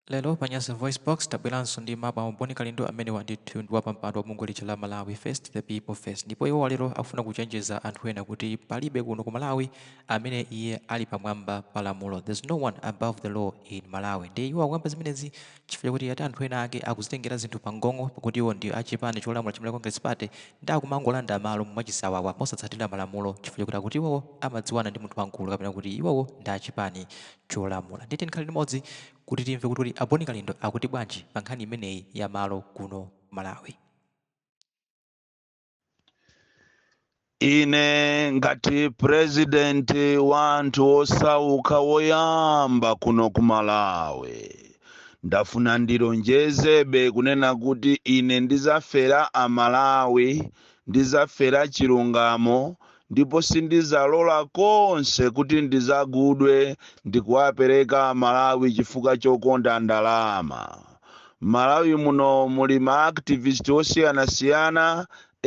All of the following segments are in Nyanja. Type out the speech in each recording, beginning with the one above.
Lero pa Nyasa Voice Box tabweranso ndi mawu a Boni Kalindo amenewa ndithu ndi wapampando wa bungwe lija la Malawi First the People First ndipo iwo lero akufuna kuchenjeza anthu ena kuti palibe kuno ku Malawi amene iye ali pamwamba pa lamulo there's no one above the law in Malawi ndiye iwo akuyamba zimenezi chifukwa kuti ati anthu ena ake akuzitengera zinthu pamgong'o pakuti iwo ndi achipani cholamula cha Malawi Congress Party ndiye akumangolanda malo mwachisawawa mosatsatira malamulo chifukwa kuti akuti iwowo amadziwana ndi munthu wamkulu kapena kuti iwowo ndi achipani cholamula. Ndiye tiyeni tikhale limodzi kuti timve kuti kodi a Boni Kalindo akuti bwanji pa nkhani imeneyi ya malo kuno ku Malawi. Ine ngati president wa anthu osauka woyamba kuno ku Malawi ndafuna ndilonjezebe kunena kuti ine ndizafera a Malawi Ndidzafera chilungamo ndipo sindidzalola konse kuti ndidzagulidwe ndikuwapereka amalawi chifukwa chokonda ndalama. Mmalawi muno muli ma activist osiyanasiyana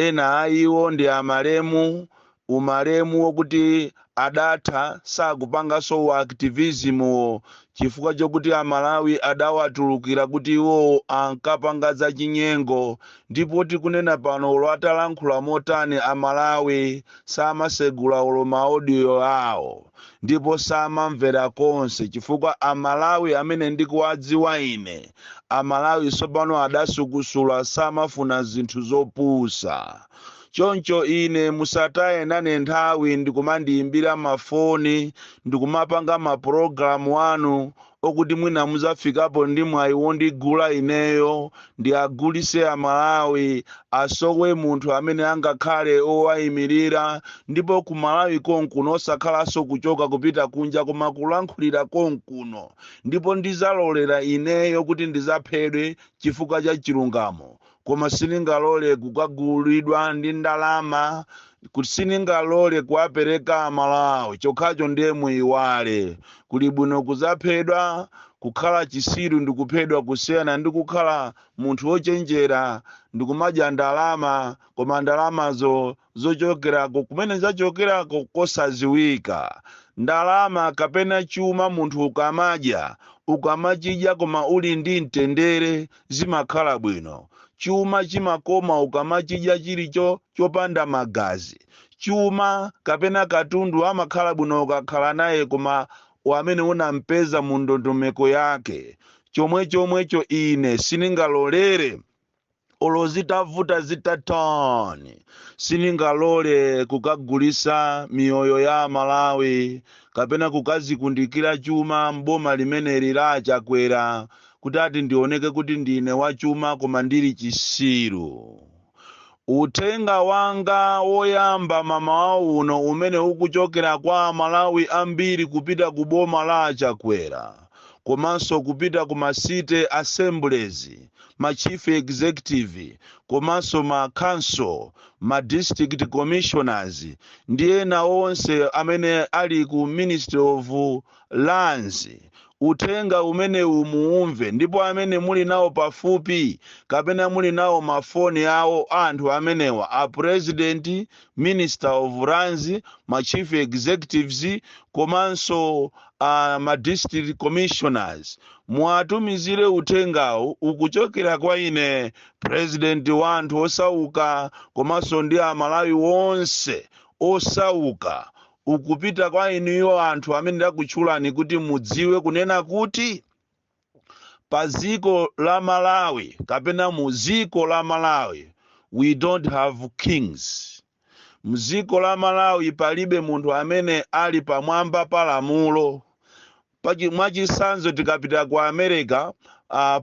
ena a iwo ndi a malemu Umalemu okuti adatha sakupanganso u activism-wo chifukwa chokuti a Malawi adawatulukira kuti iwowo ankapanga za chinyengo ndipo tikunena pano olo atalankhula motani a Malawi samasegula olo ma audio awo ndipo samamvera konse chifukwa a Malawi amene ndikuwadziwa ine a Malawi tsopano adasukusula samafuna zinthu zopusa. choncho ine musataye nane nthawi ndikumandiyimbira mafoni ndikumapanga mapulogalamu anu okuti mwina muzafikapo ndi mwayi wondigula ineyo ndiwagulise amalawi asowe munthu amene angakhale owayimirira ndipo ku malawi konkuno osakhalanso kuchoka kupita kunja koma kulankhulira konkuno ndipo ndizalolera ineyo kuti ndizaphedwe chifukwa cha chilungamo koma sindingalole kukagulidwa ndi ndalama kuti sindingalole kuwapereka amalawi chokhacho ndiye muyiwale kuli bwino kuzaphedwa kukhala chisiru ndi kuphedwa kusiyana ndi kukhala munthu wochenjera ndi kumadya ndalama koma ndalamazo zochokerako kumene zachokerako kosaziwika ndalama kapena chuma munthu ukamadya ukamachidya koma uli ndi mtendere zimakhala bwino. Chuma chimakoma ukamachidya chili cho chopanda magazi. Chuma kapena katundu amakhala bwino ukakhala naye koma wamene unampeza mu ndondomeko yake. Chomwechomwecho ine siningalolere olo zitavuta zitatani siningalole kukagulisa miyoyo ya amalawi kapena kukazikundikira chuma m'boma limeneli la achakwera kuti ati ndioneke kuti ndine wachuma koma ndili chisiru. Uthenga wanga woyamba mamawa uno umene ukuchokera kwa Amalawi ambiri kupita ku boma la a Chakwera komanso kupita ku ma city assemblies, ma chief executive komanso ma council, ma district commissioners ndi ena onse amene ali ku Ministry of lands. Uthenga umenewu muumve ndipo amene muli nawo pafupi kapena muli nawo ma phone awo a anthu amenewa, a President, Minister of lands, ma Chief Executives komanso a ma District Commissioners, muwatumizire uthengawu ukuchokera kwa ine President wa anthu osauka komanso ndi a Malawi onse osauka ukupita kwa inuyo anthu amene ndakutchulani kuti mudziwe kunena kuti pa dziko la malawi kapena mu dziko la malawi we don't have kings mdziko la malawi palibe munthu amene ali pamwamba pa lamulo Mwachitsanzo tikapita ku America,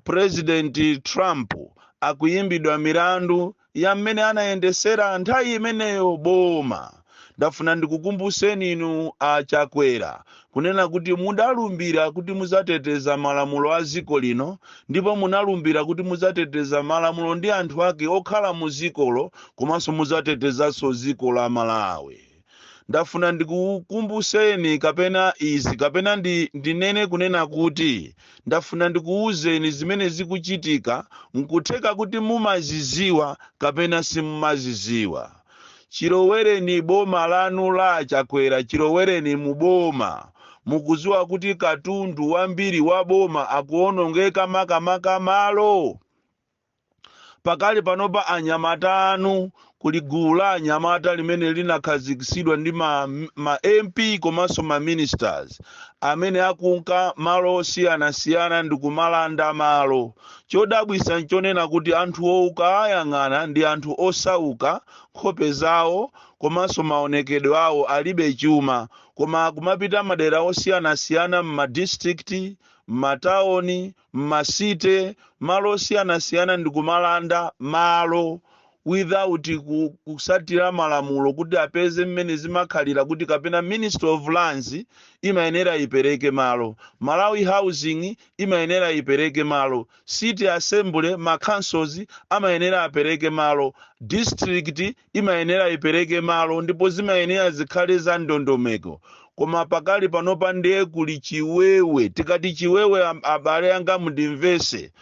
President Trump akuyimbidwa milandu ya mmene anayendesera nthawi imeneyo boma. Ndafuna ndikukumbuseni inu a Chakwera kunena kuti mudalumbira kuti muzateteza malamulo a dziko lino ndipo munalumbira kuti muzateteza malamulo ndi anthu ake okhala mu dzikolo komanso muzatetezanso dziko la Malawi. ndafuna ndikukumbuseni kapena izi kapena ndinene kunena kuti ndafuna ndikuwuzeni zimene zikuchitika nkutheka kuti mumaziziwa kapena simumaziziwa chilowereni boma lanu la achakwera chilowereni mu boma mukuziwa kuti katundu wambiri wa boma akuonongeka makamaka malo Pakali panopa anyamata anu kuli gulu la anyamata limene linakhazikitsidwa ndi ma MP komanso ma ministers amene akunka malo osiyanasiyana ndi kumalanda malo. Chodabwisa nchonena kuti anthuwo ukaayang'ana ndi anthu osauka, nkhope zawo komanso maonekedwe awo alibe chuma koma akumapita madera osiyanasiyana mma district, mma town mmacity malo osiyanasiyana ndikumalanda malo without kusatira malamulo kuti apeze mmene zimakhalira kuti kapena ministry of lands imayenera ipereke malo malawi housing imayenera ipereke malo city assembly ma councils amayenera apereke malo district imayenera ipereke malo ndipo zimayenera zikhale za ndondomeko koma pakali panopa ndiye kuli chiwewe tikati chiwewe am- abale anga mundimvese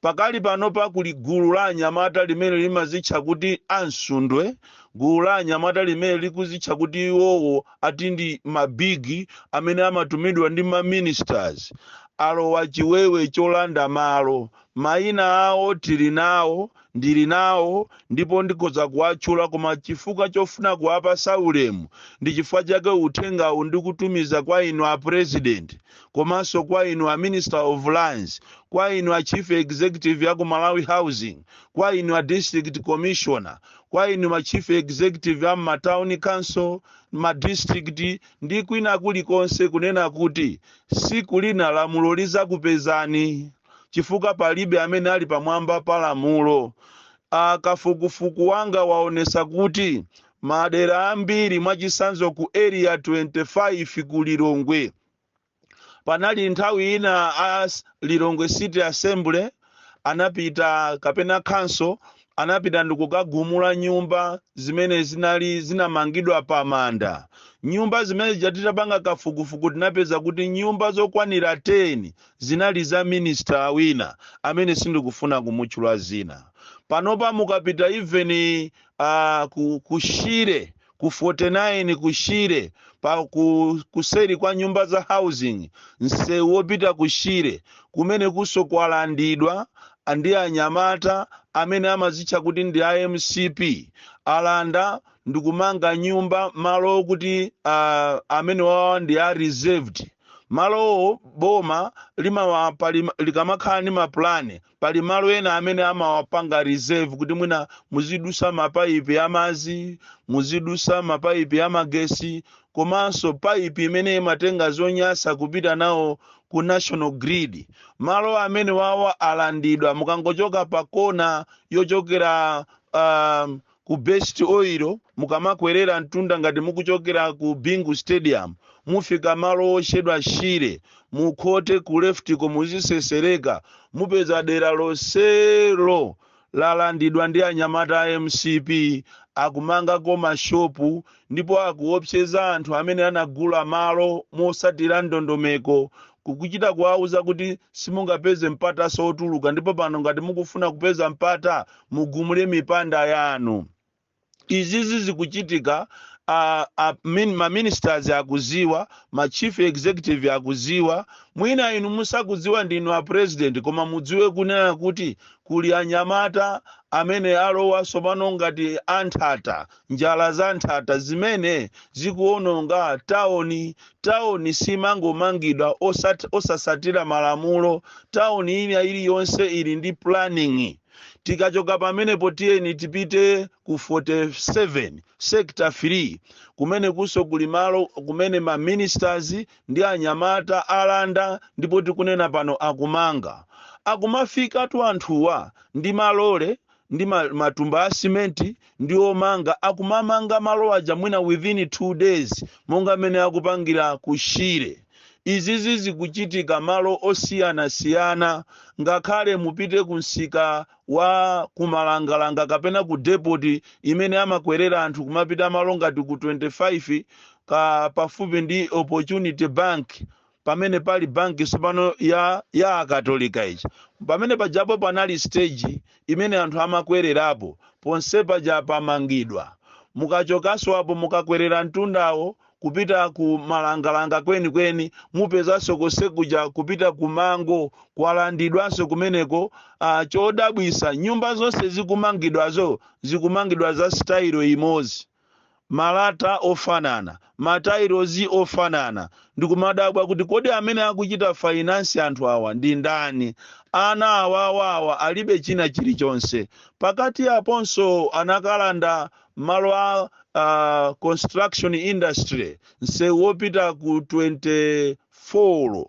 pakali panopa kuli gulu la anyamata limene limazitcha kuti amsundwe gulu la anyamata limene likuzitcha kuti iwowo ati ndi mabigi amene amatumidwa ndi maministers alowa chiwewe cholanda malo mayina awo tili nawo ndili nawo ndipo ndikhoza kuwatchula koma chifukwa chofuna kuwapasa ulemu ndi chifukwa chake uthengawu ndikutumiza kwa inu a president komanso kwa inu a minister of lands kwa inu a chief executive a ku malawi housing kwa inu a district commissioner kwa inu ma chief executive a m'matown council ma district ndi kwina kulikonse kunena kuti siku lina lamulo lizakupezani chifukwa palibe amene ali pamwamba pa lamulo. A kafukufuku wanga waonesa kuti madera ambiri mwachisanzo ku area 25 ku Lilongwe panali nthawi ina a s- Lilongwe City Assembly anapita kapena council anapita ndikukagumula nyumba zimene zinali zinamangidwa pa manda nyumba zimene zija titapanga kafukufuku tinapeza kuti nyumba zokwanira 10 Zinali za minister wina amene sindikufuna kumutchula zina. Panopa mukapita even a ku ku Shire ku 49 ku Shire pa ku kuseri kwa nyumba za housing msewu wopita ku Shire kumenekunso kwalandidwa ndi anyamata amene amazitcha kuti ndi a mcp. Alanda ndikumanga nyumba malo okuti a amenewawa ndi a reserved. malowo boma limawa pali likamakhala ndi mapulani pali malo ena amene amawapanga reserve kuti mwina muzidusa mapaipi a madzi muzidusa mapaipi a magesi komanso paipi imene imatenga zonyasa kupita nawo ku national grid malo amenewawa alandidwa mukangochoka pa kona yochokera um, ku best oil mukamakwerera mtunda ngati mukuchokera ku bingu stadium mufika malo otchedwa shire mukhote ku leftiko muzitsetsereka mupeza dera lonselo lalandidwa ndi anyamata a mcp akumangako mashopu ndipo akuopseza anthu amene anagula malo motsatira ndondomeko kukuchita kuwauza kuti simungapeze mpatanso otuluka ndipo pano ngati mukufuna kupeza mpata mugumule mipanda yanu izizi zikuchitika a, a, min, ma ministers akudziwa ma chief executive akudziwa mwina inu simukudziwa ndinu a president koma mudziwe kunena kuti kuli anyamata amene alowa tsopano ngati anthata njala za nthata zimene zikuononga taoni taoni simangomangidwa osat- osasatira malamulo taoni ina iliyonse ili ndi planning tikachoka pamenepo tiyeni tipite ku 47 sector 3 kumene kunso kuli malo kumene ma ministers ndi anyamata alanda ndipo tikunena pano akumanga akumafikatu anthuwa ndi malole ndi ma- matumba a simenti ndi omanga akumamanga malo aja mwina within two days monga mmene akupangira ku shire izizi zikuchitika malo osiyanasiyana ngakhale mupite ku msika wa kumalangalanga kapena ku depoti imene amakwerera anthu kumapita malo ngati ku 25 ka pafupi ndi opportunity bank pamene pali banki tsopano ya ya akatolika ija pamene pajapo panali stage imene anthu amakwererapo ponse paja pamangidwa mukachokanso apo mukakwerera mtundawo kupita ku malangalanga kwenikweni mupezanso konse kuja kupita ku mango kwalandidwanso kumeneko uh, chodabwisa nyumba zonse zikumangidwazo zikumangidwa za sitayilo imodzi malata ofanana, matailozi ofanana, ndikumadabwa kuti kodi amene akuchita finance anthu awa ndi ndani? Ana awawa awa alibe china chilichonse. Pakati aponso anakalanda malo a a construction industry, msewu wopita ku 24.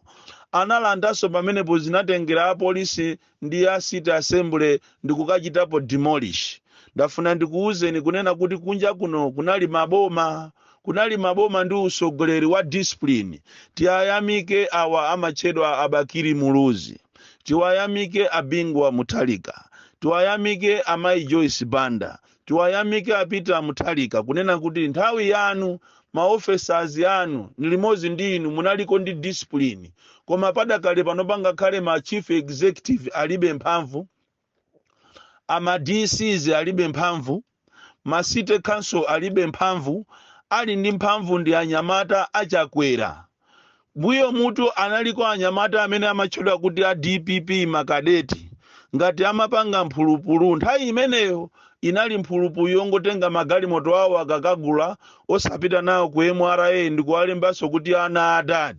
Analandanso pamenepo zinatengera apolisi ndi a city assembly ndikukachitapo demolish ndafuna ndikuwuzeni kunena kuti kunja kuno kunali maboma kunali maboma ndi utsogoleri wa discipline tiwayamike awa amatchedwa a bakili muluzi tiwayamike a bingu wa mutharika tiwayamike amayi joyce banda Tiwayamike a Peter Muthalika kunena kuti nthawi yanu ma officers anu nilimodzi ndi inu munaliko ndi discipline koma padakali pano pano ngakhale ma chief executive alibe mphamvu, a ma DCs alibe mphamvu, ma city council alibe mphamvu, ali ndi mphamvu ndi anyamata a Chakwera. Mbuyomutu analiko anyamata amene amatchedwa kuti a dpp makadeti ngati amapanga mphulupulu nthawi imeneyo inali mphulupulu yongotenga magalimoto awo akakagula osapita nawo ku mra ndikuwalembanso kuti ana a dad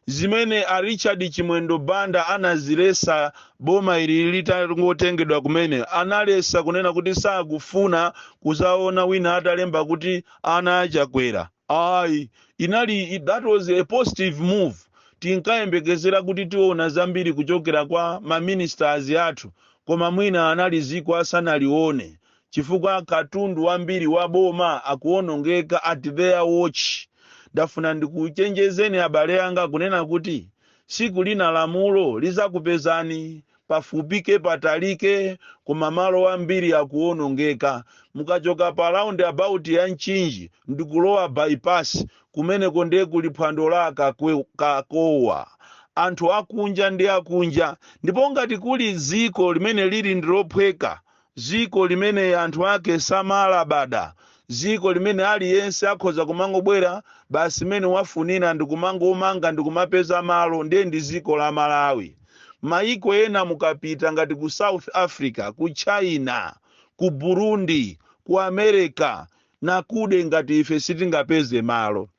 zimene a richard chimwendo banda anazilesa boma ili litangotengedwa kumene analesa kunena kuti sakufuna kuzaona wina atalemba kuti ana a chakwera Ayi, inali i- that was a positive move. Tinkayembekezera kuti tiona zambiri kuchokera kwa ma ministers athu, koma mwina analiziko asanalione chifukwa katundu wambiri wa boma akuonongeka at their watch. Ndafuna ndikuchenjezeni abale anga kunena kuti siku lina lamulo lizakupezani pafupike patalike koma malo ambiri akuonongeka mukachoka pa round about ya mchinji ndikulowa bypass kumeneko ndiye kuli phwando la a kakowa anthu akunja ndi akunja ndipo ngati kuli dziko limene lili ndilophweka dziko limene anthu ake samalabada, dziko limene aliyense akhoza kumangobwera basi mmene wafunira ndi kumangomanga ndi kumapeza malo, ndiye ndi dziko la Malawi. Mayiko ena mukapita ngati ku South Africa, ku China, ku Burundi, ku America, akuda ngati ife sitingapeze malo.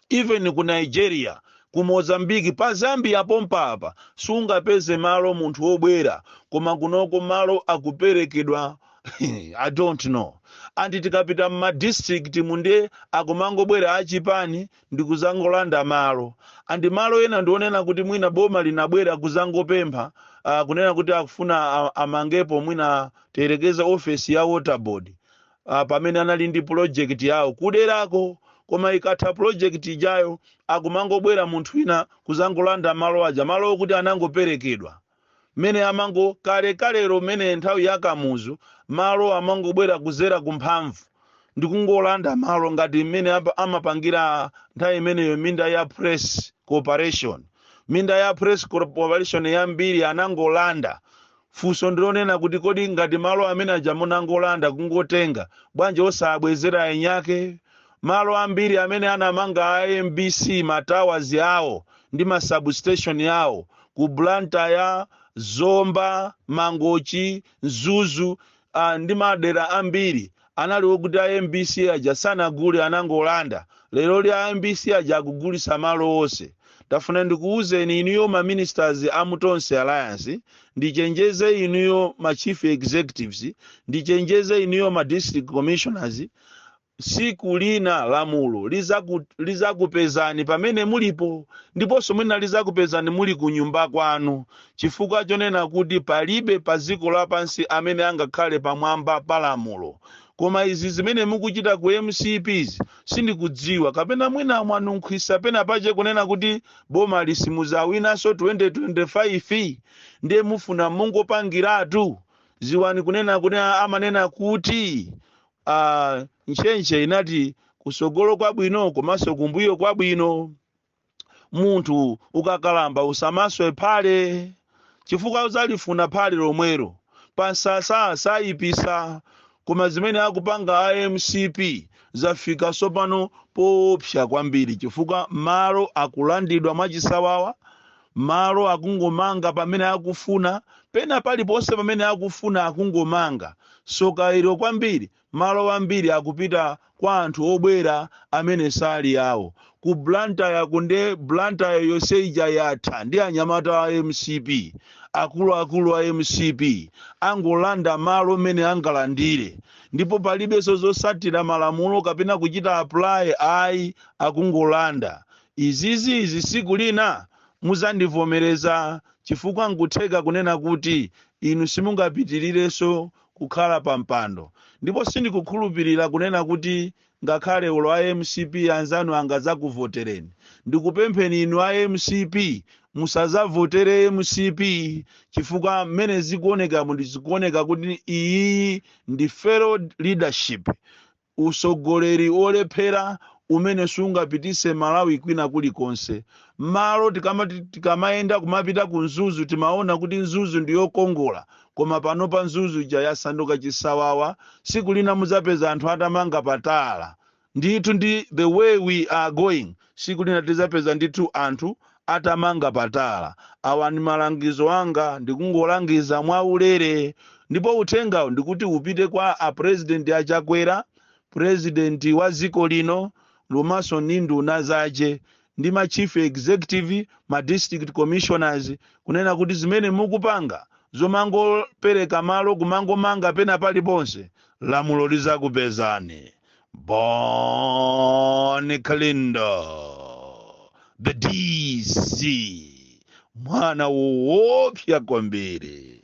even ku nigeria ku mozambique pa zambia pompa apa sungapeze malo munthu wobwera koma kunoko malo akuperekedwa i don't know and tikapita mma district mu nde akumangobwera achipani ndikuzangolanda malo and malo ena ndi onena kuti mwina boma linabwera kuzangopempha uh, kunena kuti akufuna a- amangepo mwina tiyerekeze ofesi ya water board ah, pamene anali ndi project yawo kuderako koma ikatha project ijayo akumangobwera munthu wina kuzangolanda malo aja malo okuti anangoperekedwa mmene amango kale kalero mmene nthawi ya kamuzu amangobwera kuzera kumphamvu ndikungolanda malo ngati mmene apa- amapangira nthawi imeneyo minda ya press corporation minda ya press corporation yambiri anangolanda Funso ndilonena kuti kodi ngati malo amene aja munangolanda kungotenga bwanji osaabwezera aenyake? Malo ambiri amene anamanga a mbc ma towers awo ndi ma sub station awo ku Blantyre, Zomba, Mangochi, Mzuzu ndi madera ambiri Anali okuti a mbc aja sanagule anangolanda, leroli a mbc aja akugulitsa malo onse. Ndafuna ndikuuzeni inuyo ma ministers a mu Tonse Alliance, ndichenjeze inuyo ma chief executives, ndichenjeze inuyo ma district commissioners, tsiku lina lamulo lizakupezani pamene mulipo ndiponso mwina lizakupezani muli kunyumba kwanu Chifukwa chonena kuti palibe pa dziko lapansi amene angakhale pamwamba pa lamulo. Koma izi zimene mukuchita ku mcp zi sindikudziwa kapena mwina mwanunkhisa pena pache kunena kuti bomali simudzawinanso 2025 ndiye mufuna mungopangiratu dziwani kunena kuti amanena kuti aah ntchentche inati kusogolo kwabwino komanso kumbuyo kwabwino. munthu ukakalamba usamaswe phale chifukwa uzalifuna phale lomwelo pansasa sayipisa koma zimene akupanga a mcp zafika sopano poopsa kwambiri chifukwa malo akulandidwa mwachisawawa malo akungomanga pamene akufuna pena paliponse pamene akufuna akungomanga soka ilo kwambiri Malo ambiri akupita kwa anthu obwera amene sali awo. Ku Blantyre kuno nde Blantyre yonse ija yatha ndi anyamata a mcp. Akuluakulu a mcp angolanda malo mmene angalandile ndipo palibenso zotsatira malamulo kapena kuchita apply ayi akungolanda. Izizi izi tsiku lina mudzandivomereza chifukwa nkutheka kunena kuti inu simungapitirirenso kukhala pa mpando ndipo sindikukhulupilira kunena kuti ngakhale olo a mcp anzanu angadzakuvotereni ndikupempheni inu a mcp musazavotere mcp chifukwa mmene zikuonekamu ndizikuoneka kuti iyiyi ndi failed leadership Usogoleri olephera umene sungapitise Malawi kwina kuli konse. Malo tikamayenda kumapita ku Mzuzu timaona kuti Mzuzu ndi yokongola koma panopa Mzuzu ija yasanduka chisawawa siku lina muzapeza anthu atamanga pa tala. Ndithu ndi the way we are going. Siku lina tizapeza ndithu anthu atamanga patala. Awa ndi malangizo anga ndikungolangiza mwaulere ndipo uthengawu ndikuti upite kwa a president a Chakwera, president wa dziko lino komanso ndi nduna zake ndi ma chief executive, ma district commissioners kunena kuti zimene mukupanga zomangopereka malo kumangomanga pena paliponse lamulo lizakupezani. Bon Kalindo, the DC, mwana woopsa kwambiri.